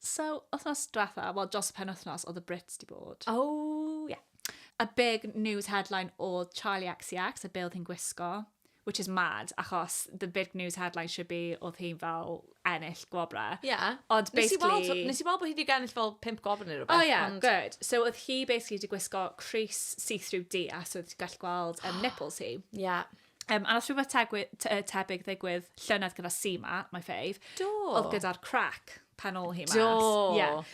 So, wythnos diwetha', wel dros y penwythnos oedd y Brits 'di bod. O, ie. A big news headline oedd Charli XCX a be oedd hi'n gwisgo, which is mad, achos the big news headline should be oedd hi'n fel ennill gwobrau. Ie. Ond basically... Nes i weld t'o', nes i weld bo' hi 'di ennill fel pump gwobr ne' rwbeth. O ie, good. So oedd hi basically 'di gwisgo crys see-through du a so oedd ti'n gallu gweld yym nipples hi. Ie. Um, a os rhywbeth tegwy, te, e, tebyg ddigwydd llynedd gyda Sima, my fave, Do. oedd gyda'r crack pan ôl hi mas. Do. Yeah.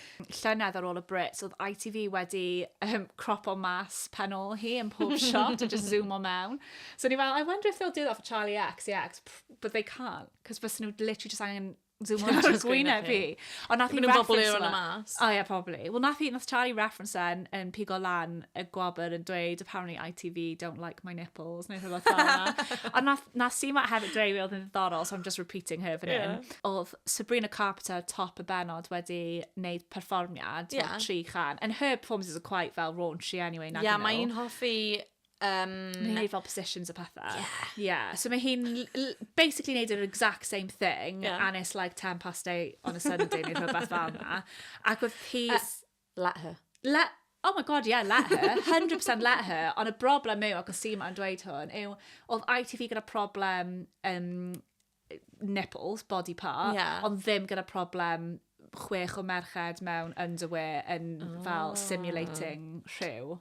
Llynedd ar ôl y Brits, oedd ITV wedi um, cropo mas pan ôl hi yn pob shot a just zoom o mewn. So ni fel, I wonder if they'll do that for Charlie X, yeah, 'cause but they can't, cos bys nhw literally just angen Zoom on just gwyneb fi. Ond nath i reference yma. O ie, probably. Wel, nath i, nath Charlie reference yn, yn pigo lan y gwabr yn dweud, apparently ITV don't like my nipples, neu rhywbeth fel yna. Ond nath, nath si ma hefyd dweud fi oedd yn ddiddorol, so I'm just repeating her fan yeah. hyn. Oedd Sabrina Carpenter top y benod wedi wneud perfformiad, yeah. tri chan. And her performances are quite fel raunchy anyway. Yeah, mae'n hoffi Um, mae hi'n fel positions a pethau. Yeah. yeah. So mae hi'n basically neud yr exact same thing yeah. and it's like 10 past 8 on a Sunday neu rhywbeth fel yna. Ac oedd hi... Uh, let her. Let, oh my god, yeah, let her. 100% let her. Ond y broblem yw, ac o si ma'n dweud hwn, yw oedd ITV gyda problem um, nipples, body part, yeah. ond ddim gyda problem chwech o merched mewn underwear yn oh. fel ah. simulating rhyw.